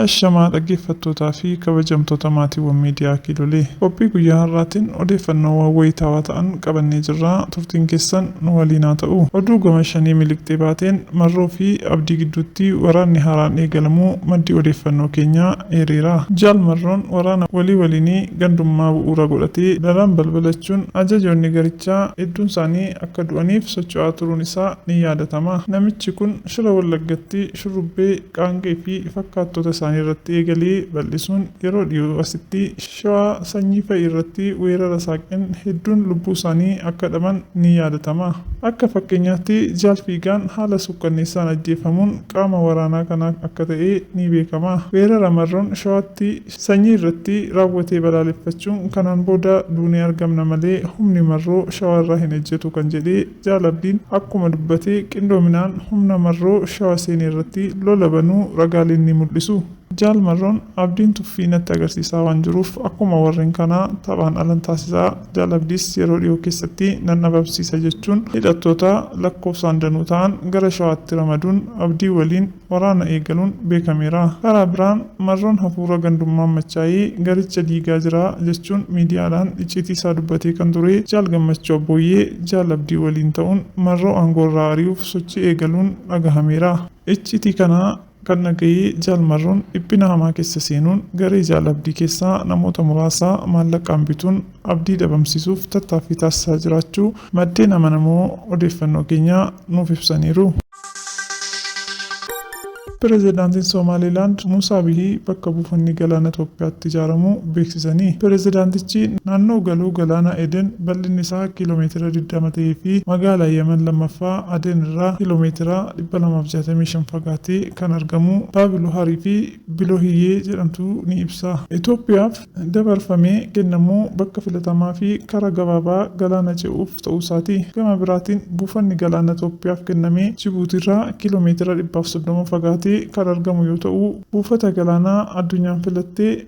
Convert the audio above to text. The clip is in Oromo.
Ashamaa dhaggeeffattootaa fi kabajamtoota maatiiwwan miidiyaa kiilolee qophii guyyaa har'aatiin odeeffannoowwan wayitaawaa ta'an qabannee jirra turtiin keessan nu waliin haa ta'u oduu gama shanii miliqxee baateen Marroo fi Abdii gidduutti waraanni haaraan eegalamuu maddi odeeffannoo keenyaa eereera. Jaal Marroon waraana walii waliinii gandummaa bu'uura godhate daran balbalachuun ajajoonni garichaa hedduunsaanii akka du'aniif socho'aa turuun isaa ni yaadatama. Namichi kun Shira Wallaggatti shurrubbee, qaanqee fi fakkaattota isaanii irratti eegalee bal'isuun yeroo dhiyoo asitti Shawaa Sanyii fa'i irratti weerara saaqeen hedduun lubbuu isaanii akka dhaban ni yaadatama. Akka fakkeenyaatti Jaal Fiigaan haala suukkanneessaan ajjeeffamuun qaama waraanaa kanaa akka ta'e ni beekama. Weerara Marroon Shawaatti Sanyii irratti raawwate balaaleffachuun kanaan booda duunee argamna malee humni Marroo Shawaa irraa hin ejjetu kan jedhe Jaal Abdiin akkuma dubbate qindoominaan humna Marroo Shawa seene irratti lola banuu ragaaleen ni mul'isu. Jaal Marroon, Abdiin tuffii natti agarsiisaa waan jiruuf akkuma warreen kanaa taphaan alan taasisa. Jaal Abdiis yeroo dhiyoo keessatti nan dhabamsiisa jechuun hidhattoota lakkoofsaan danuu ta'an gara Shawaatti ramaduun Abdii waliin waraana eegaluun beekameera. Karaa biraan Marroon hafuura gandummaan machaa'ee garicha diigaa jira jechuun miidiyaadhaan icciitii isaa dubbatee kan ture Jaal Gammachuu Abbooyyee Jaal Abdii waliin ta'uun Marroo aangoorraa ari'uuf sochii eegaluun dhagahameera. Icciitii kana Kan na gahe Jaal Marroon dhiphina hamaa keessa seenuun garee Jaal Abdii keessaa namoota muraasa maallaqaan bituun Abdii dhabamsiisuuf tattaaffii taasisaa jiraachuu maddeen amanamoo odeeffannoo keenyaa nuuf ibsaniiru. Pirezidaantiin Somaaliilaand Muusaa Bihii bakka buufanni galaana Itoophiyaatti ijaaramu beeksisanii. Pirezidaantichi naannoo galoo galaana Eden bal'inni isaa kiiloo meetira digdama ta'ee fi magaalaa Yaman lammaffaa Aden irraa kiiloo meetira 265 fagaatee kan argamu Baabiloharii fi Bilohiyyee jedhamtu ni ibsa. Itoophiyaaf dabarfamee kennamu bakka filatamaa fi karaa gabaabaa galaana ce'uuf ta'uusaati. Gama biraatiin buufanni galaana Itoophiyaaf kenname Jibuutiirraa kiiloo meetira 130 fagaatee kan argamu yoo ta'u, buufata galaanaa addunyaan filatte,